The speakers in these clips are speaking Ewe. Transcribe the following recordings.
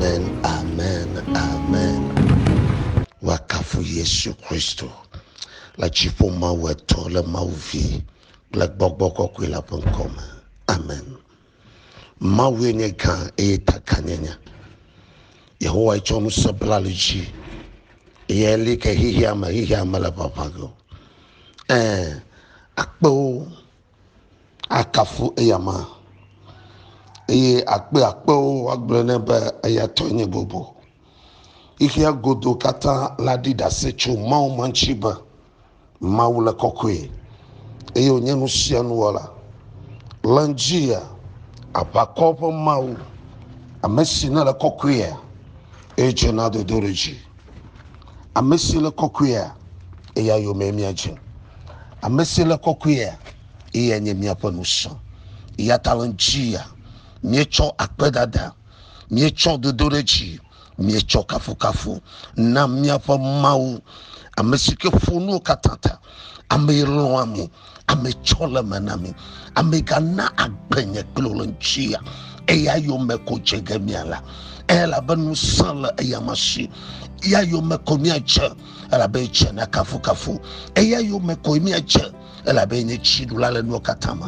Amen, amen, amen. Woakafu Yesu Kristo le dziƒo Mawu etɔ le Mawu vi kple gbɔgbɔ kɔkɔe la ƒe ŋkɔ me. Amen. Mawue nye gã eye ta gã nye nya. Yehowa tsɔ ŋusẽ bla li dzi eye li ke xexea me xexea me le ʋaʋã ge o. Ɛɛ, akpewo akafu eya ma eye akpe akpewo woagblɔ nɛ be eya tɔ nye bobo. Xexea godo katã la ɖi ɖase tso Mawu ma ŋuti be Mawu le kɔkɔe eye wònye nu sia nu wɔla. Le ŋutia, aʋakɔ ƒe Mawu, ame si nele kɔkɔea, eye dzena dodoɖedzi. Ame si le kɔkɔea, eya yomee míadze. Ame si le kɔkɔea, eya nye míaƒe ŋusẽ. Eya ta le ŋdi ya míetsɔ akpedada, míetsɔ dodoɖedzi, míetsɔ kafukafu na míaƒe Mawu, ame si ke ƒo nuwo katã ta, ame yi lɔ̃a mi. ame tsɔ le me na mi ame gana agbe nye klo le ŋutia eya yome ko dze ge miala elabe ŋusẽ le eya ma si eya yome ko miadze elabe dze na kafukafu eya yome ko miadze elabe nye tsiɖula le nuwo katã me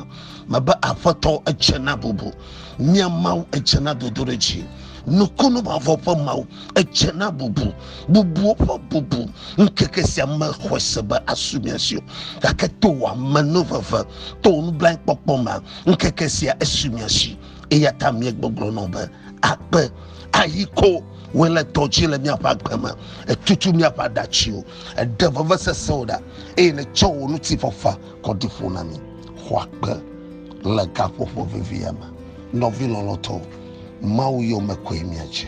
mebe aƒetɔ edze na bubu mia mawu edze na dodoɖedzi nukunu mavɔ ƒe mawu edze na bubu bubuwo ƒe bubu ŋkeke sia mexɔe se be asu mia si o gake to wò amenuveve to wò nublankpɔkpɔ me ŋkeke sia esu mia si eya ta míegbɔgblɔ nɔ be akpe ayi ko wòe le tɔ dzi le míaƒe agbe me etutu míaƒe aɖatsiwo eɖe vevesesewo ɖa eye netsɔ wò ŋutifafa kɔ ɖi ƒo na mí xɔ akpe le gaƒoƒo vevia me nɔvi lɔlɔtɔwo mawu yome koe míadze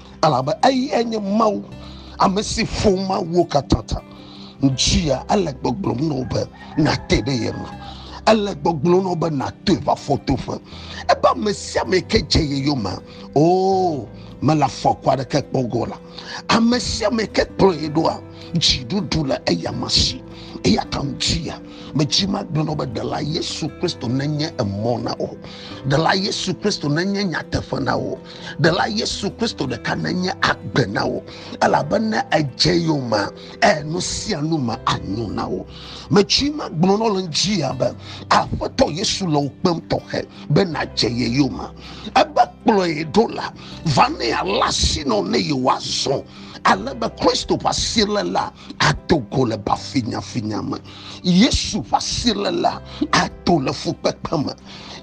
Elabe eyae nye Mawu, ame si ƒo mawuwo katã ta. Dzia ele gbɔgblɔm na wò be nàte ɖe ye ŋu. Ele gbɔgblɔm na wò be nàtɔe va fɔtoƒe. Ebe ame sia ame ke dze ye yome, oo, mele afɔku aɖeke kpɔ ge o la, ame sia ame ke kplɔ ye ɖoa, dziɖuɖu le eyama si. Eya ta dzia medzi magblɔ na wò be Ɖela Yesu Kristo nenye emɔ na wò. Ɖela Yesu Kristo nenye nyateƒe na wò. ɖela yesu kristo ɖeka nenye agbe na wo elabe ne edze yomea e nu sia nu me anyo na wo metsui ma gblɔ nɔ le ŋdzia be aƒetɔ yesu le wo kpem tɔxɛ be nadze ye yome ebe kplɔe ɖo la va ne ala sinɔ ne yewoazɔ ale be kristo ƒe asi le la ato go le bafinyafinya me. Yesu ƒe asi le la ato le fukpekpe me.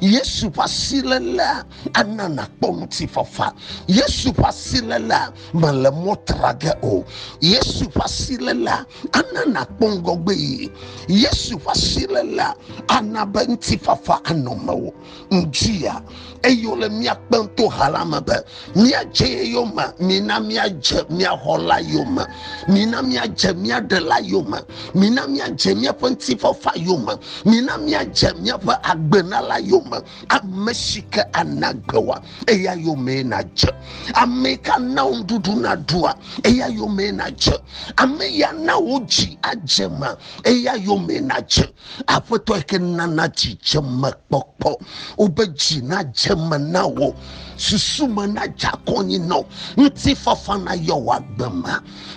Yesu ƒe asi le la ana nakpɔ ŋutifafa. Yesu ƒe asi le la mele mɔ tra ge o. Yesu ƒe asi le la ana nakpɔ ŋgɔgbe yi. Yesu ƒe asi le la ana be ŋutifafa anɔ mewò. ŋdzia eye wòle mía kpem to ha la me be míadze ye yome mina míadze mía xɔla yome mina míadze mía ɖela yome mina míadze míaƒe ŋutifafa yome mina míadze míaƒe agbenala yome ame si ke ana gbe wa eya yome nadze ame yi ke ana wo nuɖuɖu naɖua eya yome nadze ame ya na wo dzi adze ma eya yome nadze Aƒetɔ yi ke nana dzidzemekpɔkpɔ, wobe dzi nadze me na wò, susu me nadze akɔnyi na wò, ŋutifafa nayɔ wò agbe me.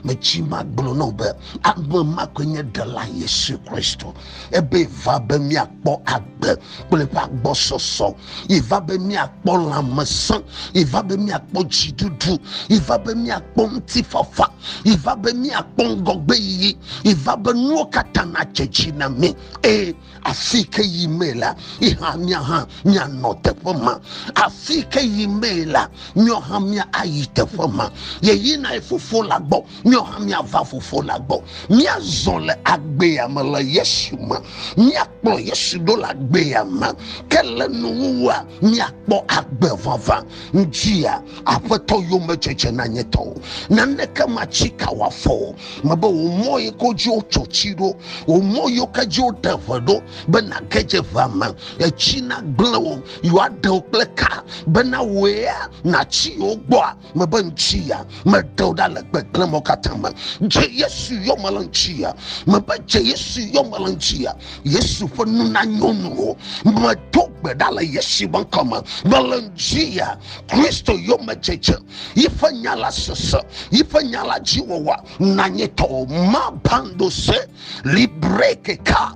Metsi magblɔ na wò be ame ma koe nye Ɖela Yesu Kristo. Ebe va be míakpɔ agbe kple eƒe agbɔsɔsɔ yeva be míakpɔ lãmesẽ yeva be míakpɔ dziɖuɖu yeva be míakpɔ ŋutifafa yeva be míakpɔ ŋgɔgbe yiyi yeva be nuwo katã nadze dzi na mí eye afi ke yi mee la yihã mía hã míanɔ teƒe ma afi ke yi mee la míɔ hã mía ayi teƒe ma yeyina ye fofo la gbɔ míɔ hã míava fofo la gbɔ míazɔ le agbea me le yesu me mía kplɔ Yesu ɖo le agbea me, ke le nuwuwua míakpɔ agbe vavã. Ŋdzia Aƒetɔ yomedzedze na nye tɔwo, naneke matsi ka wòafɔ o. Mebe wò mɔ yi ke dzi wotso tsi ɖo, wò mɔ yi ke dzi wote ʋe ɖo, be nàge dze ʋea me, etsi nagblẽ wo, yewoaɖe wo kple ka, bena wòe ya nàtsi yewo gbɔa. mebe ŋtsi ya meɖeo ɖa le gbegblẽ mɔ katã me dze yesu yɔme le ŋtsi ya mebe dze yesu yɔme le ŋtsi ya yesu ƒe nu na nyɔnuwo medo gbe ɖa le yesu ƒe ŋkɔ me mele ŋtsi ya kristo yɔme dzedze yiƒe nya la sese yiƒe nya la dzi wɔwa nanye tɔwo ma bando se libre keka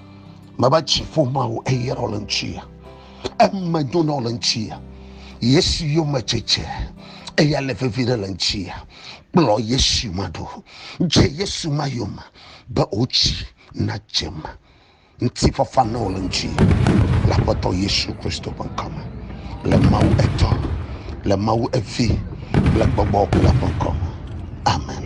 mava tsi ƒoma o eye ɖɔ le ŋutia eme do nɔ le ŋutia yesu yome tsetse eya le vevi ɖe le ŋutia kplɔ yesu ma ɖo dze yesu ma yome be wotsi na dzem ŋuti fafa na wo le ŋutia le aƒetɔ yesu kristo ƒe ŋkɔme le mawu etɔ le mawu evi le gbɔgbɔ kple ƒe ŋkɔme amen